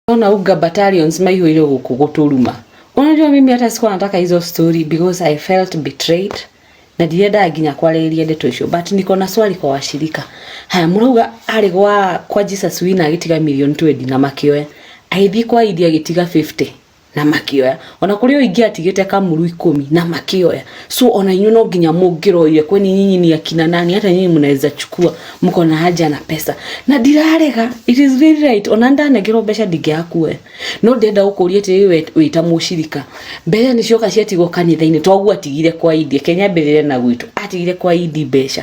Unaona uga battalions maihũire gũkũ gũtũruma. Unajua mimi hata sikuwa nataka hizo story because I felt betrayed na ndiendaga nginya kwarĩrĩria ndeto icio but niko na swali kwa washirika haya mũrauga arĩ gwa kwa Jesus wina agĩtiga million 20 na makĩoya agĩthiĩ kwa idi agĩtiga 50 na makĩoya ona kũrĩ ũyũ ingĩ atigĩte kamuru ikũmi na makĩoya so ona inyuĩ no nginya mũngĩroire kweni nyinyi ni akina nani hata nyinyi mnaweza chukua mko na haja na pesa na ndirarega it is very right ona ndanegerwo mbeca ndingĩaga kuoya no ndenda gũkũria atĩrĩrĩ we wĩta mũcirika mbeca nĩ cioka ciatigwo kanitha-inĩ toguo atigire kwa idi kenya mbĩrĩre na gwitũ atigire kwa idi mbeca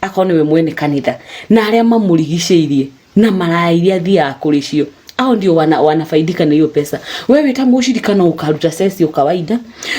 akorwo nĩwe mwene kanitha na arĩa mamũrigicĩirie na maraya iria athiaga kũrĩ cio ao ndio wana, wanafaidika na hiyo pesa. Wewe ta mũshirika no ukaruta sesi o kawaida,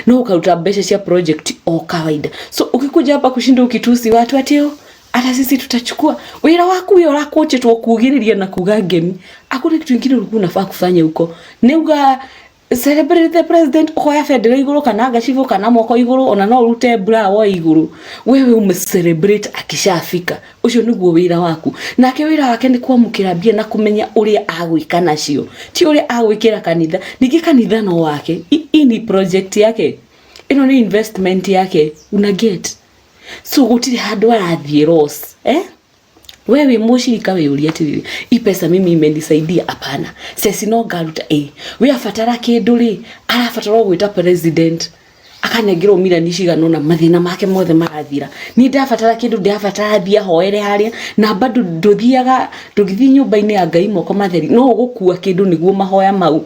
no ukaruta mbeca cia project o kawaida. So ukikuja hapa kushinda ukitusi watu ati "Oh, hata sisi tutachukua wira waku uyo urakuchitwo kugiriria na kuga ngemi, hakuna kitu kingine ulikuwa unafaa kufanya huko. Neuga celebrate the president ukoya bendera iguru kana ngacibå kana moko iguru ona no urute bra wo iguru wewe ume celebrate akishafika ucio niguo wira waku nake wira wake ni kwamukira mbia na kumenya uria agwika nacio ti uria agwikira kanitha ningi kanitha no wake hii ni project yake ino ni investment yake una get so gutire handu arathiä eh we wĩ mũcirika wĩyũria atĩrĩrĩ i pesa mimi imenisaidia hapana ceci no ngaruta ĩ we abatara kĩndũ rĩ arabatara o gwĩta president akanengerwo mirani cigana ũna mathĩna make mothe marathira niĩ ndabatara kĩndũ ndabatara thiĩ ahoere harĩa na bado ndũthiaga ndũgĩthiĩ nyũmba-inĩ ya ngai moko matheri no ũgũkua kĩndũ nĩguo mahoya mau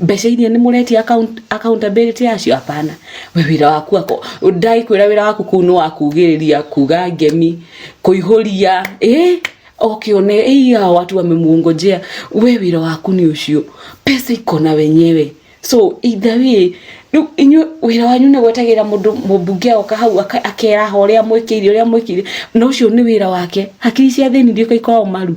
mbeca iria nĩ mũretia account- accountability yacio hapana we wĩra waku ako ndagĩkwĩra wĩra waku kũu nĩ wa kugĩrĩria kuga ngemi kũihũria ĩ okĩone ĩiya watu wamemwongojea we wĩra waku nĩ ũcio pesa iko na wenyewe so either way rĩu inyuĩ wĩra wanyu nĩ gwetagĩrĩra mũndũ mũmbunge agoka hau aka- akeraha ũrĩa mwĩkĩire ũrĩa mwĩkĩire na ũcio nĩ wĩra wake hakiri cia thĩni iria ikoragwo maru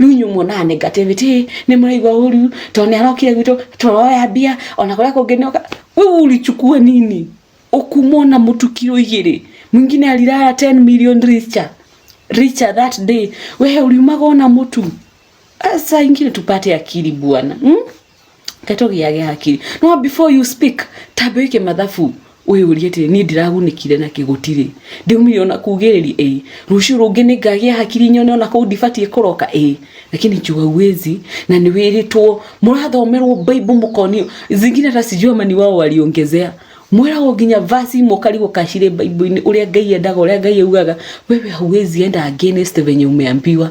rĩu inyuĩ muonaga negative ti nĩ mũraigua ũru tondũ nĩ arokire gwitũ tũroya mbia ona kũrĩa kũngĩ nĩ oka wewe ulichukua nini ukumwo na mũtu kiro igĩrĩ mwingine alilala 10 million richer richer that day wewe uliumaga ona mũtu saa ingine tupate akili bwana hmm? Tetũgĩage hakiri. No before you speak, tambe wĩke mathabu wĩyũrie atĩ niĩ ndiragunĩkire na kĩgũtirĩ ndiumire ona kugĩrĩria ĩĩ rũciũ rũngĩ nĩ ngagĩa hakiri nyone ona kũu ndibatiĩ kũroka ĩĩ lakini jua uwezi na nĩ wĩrĩtwo mũrathomerwo baibu mũkonio zingine hata sijui amani wao waliongezea mwĩragwo nginya vasi imwe ũkarigwo kacirĩ baibu-inĩ ũrĩa ngai endaga ũrĩa ngai augaga wewe hauwezi enda against venye umeambiwa